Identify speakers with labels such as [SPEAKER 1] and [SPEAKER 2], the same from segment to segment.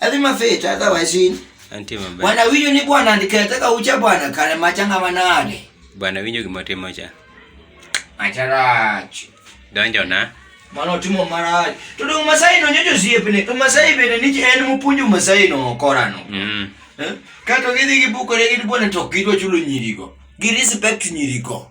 [SPEAKER 1] Ati mafeta hata washini. Anti mabaya. Wana
[SPEAKER 2] winyo ni bwana
[SPEAKER 1] ndikataka ucha bwana kale machanga manade. Bwana winyo kimotimo
[SPEAKER 2] cha. Macharachi.
[SPEAKER 1] Donjo na.
[SPEAKER 2] Mano timo
[SPEAKER 1] marachi. Tudu umasai no nyojo siepene. Umasai bene niji en mupunju umasai no korano. Mm. Eh? Kato gidhi gibukore gidi bwana to gidwa chulo nyirigo. Gi respect nyirigo.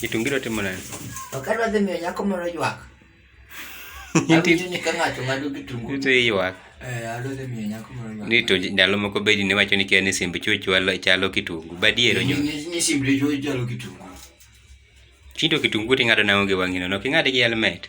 [SPEAKER 1] Kitungi dwa timo
[SPEAKER 2] nani? Ok adwa dhi miyo nyako
[SPEAKER 1] moro ywak. Awinjo ni ka ng'ato ng'ado kitungu. Ito iyuak. Eh, adwa dhi miyo nyako moro ywak. Ni to ndalo moko bedi
[SPEAKER 2] ne wacho ni kia ni simb chuo chwalo chalo kitungu. Badiero nyo. Ni ni simb chuo
[SPEAKER 1] chalo kitungu.
[SPEAKER 2] Chindo kitungu ting'ado nang'o gi wang'ino. Nok ing'ade gi helmet.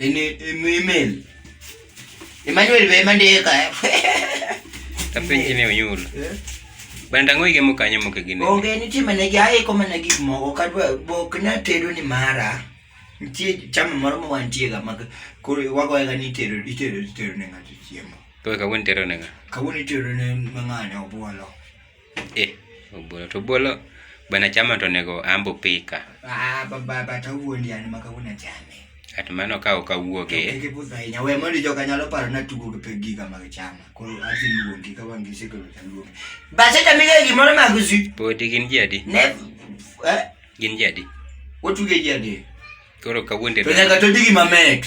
[SPEAKER 1] email Emmanuel be mandika
[SPEAKER 2] tapenji ne oyul banda ng'o igemo kanyo moko e gini onge nitie mana gi
[SPEAKER 1] aiko mana gik moko kadwa bok na tedo ni mara nitie chama moro ma wantie ga ma koro wagoye ga ni tedo itedo itedo ne ng'ato chiemo to kawuono itedo ne
[SPEAKER 2] ng'a kawuono itedo ne
[SPEAKER 1] ng'ane obuolo Eh,
[SPEAKER 2] obolo to obolo bana chama to nego ambo pika. Ah, baba bata
[SPEAKER 1] wuondi an maka una chame. At mano ka ok
[SPEAKER 2] awuoge. Kike pusa inya we
[SPEAKER 1] mondo joka nyalo paro na tugo gi pegi ga mag chama. Ko azi luongi ka wangi siko ta luongi. Ba se ta mige gi mondo mag zi. Podi gin ji adi? Ne.
[SPEAKER 2] Eh?
[SPEAKER 1] Gin
[SPEAKER 2] ji adi? Wotuge ji
[SPEAKER 1] adi? Koro ka wuonde.
[SPEAKER 2] To nyaka to digi mamet.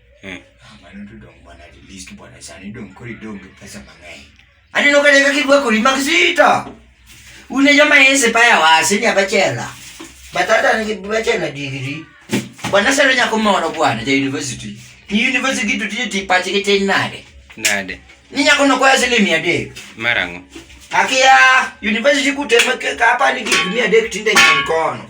[SPEAKER 1] Eh. Ah, mano to dong bwana at least bwana sani dong kori dong gi pesa mang'eny. Aneno ka deka kibwa kori mag sita. Une joma ese paya wase ni abachela. Batata ni bachela digiri. Bwana sero nyako moro bwana ja university. Ni university gitu tije tipache kete nade. Nade. Ni nyako no kwa sele mia de. Marango.
[SPEAKER 2] Akia
[SPEAKER 1] university kutema kapa ni kitu mia de kitinde nkono.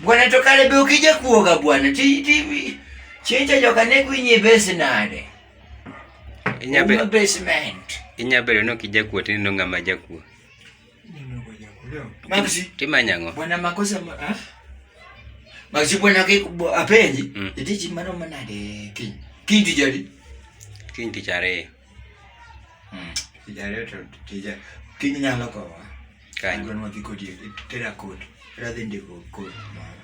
[SPEAKER 1] Bwana
[SPEAKER 2] tokale be
[SPEAKER 1] ukija kuoga bwana. Ti ti chenja joka ne kwinye base nade.
[SPEAKER 2] Inya be basement.
[SPEAKER 1] Inya be no kija
[SPEAKER 2] kuo tin no ngama ja kuo.
[SPEAKER 1] Mamsi. Timanya ngo. Bwana
[SPEAKER 2] makosa ma.
[SPEAKER 1] Ah? Mamsi bwana ke apenji. Mm. Iti chimano manade king. King tijari. King
[SPEAKER 2] tijari.
[SPEAKER 1] Mm. Tich ariyo to
[SPEAKER 2] tija
[SPEAKER 1] kiny nyalo kowa. Kanyo.
[SPEAKER 2] Gwen wadhi kodi
[SPEAKER 1] tera kod. Tera dhi ndiko kod moro.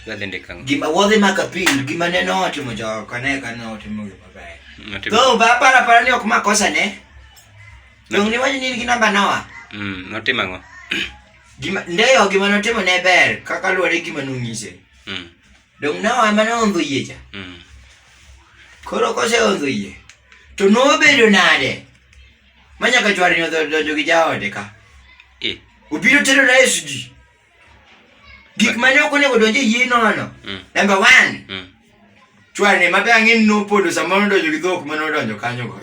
[SPEAKER 2] Wadhi ndiko ang'o? Gima wadhi maka pil
[SPEAKER 1] gima ne notimo jogo kane kane otimo gima ber. Notimo- Go ba para para
[SPEAKER 2] ni ok
[SPEAKER 1] makosa ne. Dong ni wani nigi namba nawa. Mm, notimo ang'o?
[SPEAKER 2] Gima
[SPEAKER 1] ndeyo gima notimo ne ber kaka luwore gi gima nonyise. Mm. Dong na wa mane ondho yie cha. Mm. Koro kose ondho yie. To nobedo nade? Manya ka chwari nyo dojo gi jaode ka. Eh. Ubiro tero na Yesu ji. Gik mane ok onego donje yie no ano. Mm. Number 1. Mm. Chwari ne mabe angin no podo sama no dojo gi dhok mano donjo kanyo go.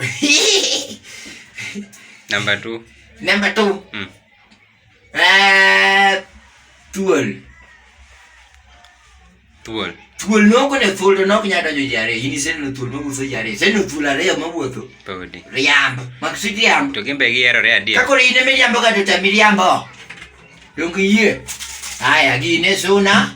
[SPEAKER 2] Number 2. Number 2.
[SPEAKER 1] Mm. Eh, thuol. Thuol. Thuol noko ne thuol to nok nyalo donjo ji ariyo. In iseneno thuol mawuotho ji ariyo. Iseneno thuol ariyo mawuotho. Podi. Riambo.
[SPEAKER 2] Mak si
[SPEAKER 1] riambo. To gin be giyerore adier.
[SPEAKER 2] Kakoro in ema iriambo ka to
[SPEAKER 1] tami riambo. Donge iyie? Haya, gine suna.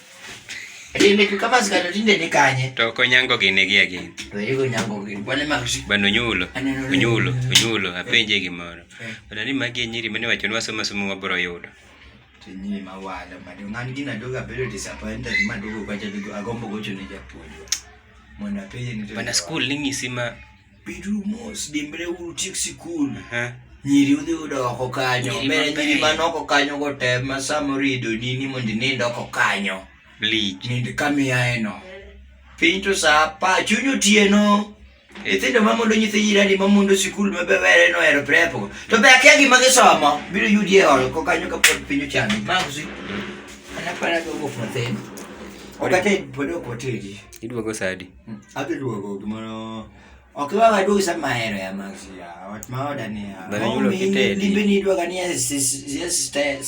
[SPEAKER 1] Rinde tu kama zikalo rinde ni kanye. To ko nyango gine gi
[SPEAKER 2] agin. To yugo nyango gine.
[SPEAKER 1] Bwana makushi. Bwana nyulo.
[SPEAKER 2] Nyulo. Nyulo. Apenje gi moro. Eh. Bwana ni magi nyiri mane wacho ni wasoma somo wabro yudo. To nyiri
[SPEAKER 1] mawala madu ngani gina doga bedo disappointed madugo kwa jadugo agombo gocho ne japuonjwa. Mwana penje ni. Bwana school ni ngisima
[SPEAKER 2] Beduru mos,
[SPEAKER 1] dimbreuru utiek sikul. Aha. Nyiri udhi udo oko kanyo. Nyiri Bende mabeyo. nyiri man oko kanyo go te ma samoro ido nini mondo inind oko kanyo. Bleach. Nind
[SPEAKER 2] kamiyaeno.
[SPEAKER 1] Piny to sa apa, chuny otieno. Nyithindo ma mondo nyithi jirani ma mondo sikul ma be were no ero prepo. To be akia gima gisomo. Biro yudi e oro ko kanyo ka pod piny ochando. Mago si. Ana para go go for them. Okate pod ok otedi. Idwogo sadi.
[SPEAKER 2] Adhi duogo
[SPEAKER 1] gimoro ok iwa waduog sama ahero ya Maxi ya ot ma oda ni ya Bana yulo kitedi. limbe
[SPEAKER 2] ni idwaga ni ya
[SPEAKER 1] sis- ya sta-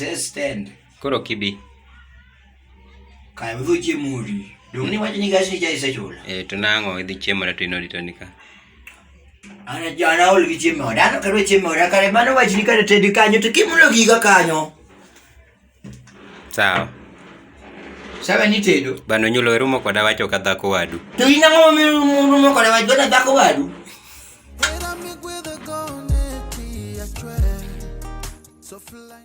[SPEAKER 1] ya stand Koro kibi. kaya udho chiemo odi dong' ni wacho ni gas ni cha isechula Eh, to nang'o idhi
[SPEAKER 2] chiemo to ino dito nika.
[SPEAKER 1] an an aol gi chiemo oda an ok adwa chiemo oda kare mano wachni kare tedi kanyo to kimulo giga kanyo
[SPEAKER 2] Sawa.
[SPEAKER 1] Sawa ni tedo. Bano nyulo erumo koda
[SPEAKER 2] wacho
[SPEAKER 1] ka
[SPEAKER 2] dhako
[SPEAKER 1] wadu. To in
[SPEAKER 2] ang'o mirumo
[SPEAKER 1] koda wacho ka dhako wadu? So fly.